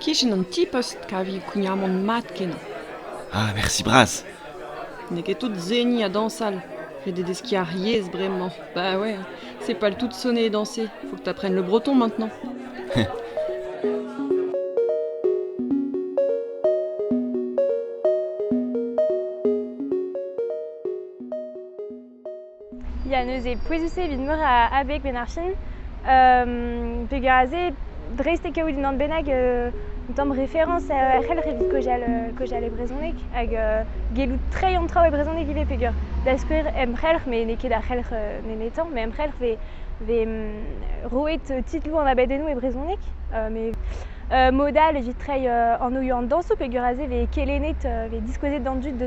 Kichen an ti-post kavio kougnamant mat-kenañ. Ah, mersi bras. N'eo ket tout seniñ ha dañsal. Ret eo deskiñ ar yezh bremañ. Bah ouais, c'est pas le tout sonner et danser. Faut que t'apprennes le breton maintenant. Ya, neuze, pouezus eo evit meur a abeg benn ar fin. Um, peger a-se, dreist eo kaout unan bennak uh, un tamm referañs uh, c'hell evit kojal, uh, kojal e brezhoneg hag uh, gellout treiñ an traoù e brezhoneg ivez peger. Da skouer, emc'helc'h, me n'eo ket ar c'helc'h uh, nemetañ, mais emc'helc'h vez, vez um, roet titloù an abadennoù e brezhoneg. Uh, mais mod all evit treiñ anvioù an dañsoù peogwir aze vez kelennet, vez diskouezet d'an dud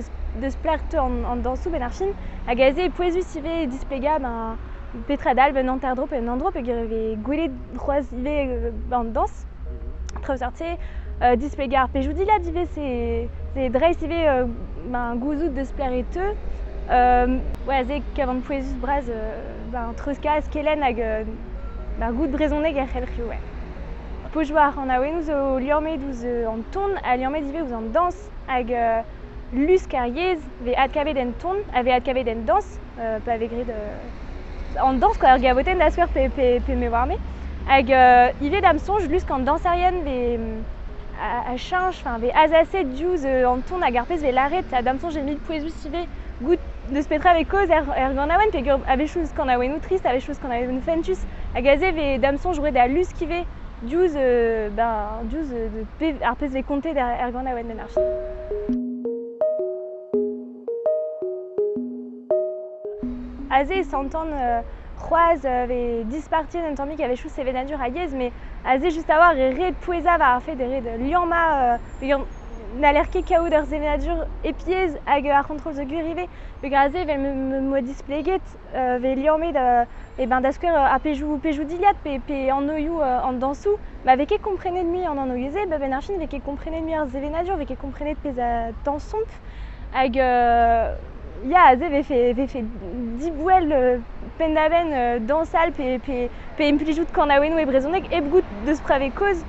deus plac'h teu an dañsoù benn ar fin hag aze eo pouezus ivez displegañ ben petra dal un hanter-dro pe un andro peogwir e vez gwelet c'hoazh ivez an dañs. Treuzseurt-se displegañ ar pezhioù dilad ivez c'est dreist ivez ben gouzout deus plac'h e teu ouais aze kavan pouezus bras ben treuzkas kelenn hag ben goût brezhoneg er c'helc'hioù ouais. Pojoù ar c'hanaouennoù zo liammet ouzh an ton ha liammet ivez ouzh an dañs hag lusk ar yezh 'vez adkavet en ton ha 'vez adkavet en dañs pa vez graet an dañs kwa ur gavotenn da skouer pe pe me oar-me hag ivez da'm soñj lusk an dañserien 'vez a cheñch, 'vez azaset diouzh an ton hag ar pezh 'vez lâret ha da'm soñj eo mui pouezus ivez goût N'eus petra vez kaoz er, er ganaouenn peger a-wechoù eus kanaouennoù trist, a-wechoù eus kanaouennoù fentus. Hag aze vez da'm soñj ret da lusk ivez diouzh euh, ben, diouzh euh, ar pezh vez kontet er, er ganaouenn d'en ar fin. Aze e s'entend euh, c'hoazh vez dispartiet un tammig a-wechoù sevenadur ha yezh, mais aze juste avoir e red pouezañ war ar fait e red liammañ n'haller ket kaout ur sevenadur hep-yezh hag ar c'hontrol zo gwir ivez pegra-se evel m'em boa displeget e vez liammet e ben da skouer ar pezhioù dilhad pe pe anvioù an dañsoù ma vez ket komprenet mui an anvioù-se benn ar fin vez ket komprenet mui ar sevenadur vez ket komprenet pezh a dañsont hag ya aze vefe diboell penn-da-benn dañsal pe pe implijout kanaouennoù e brezhoneg hep goût deus prave kaoz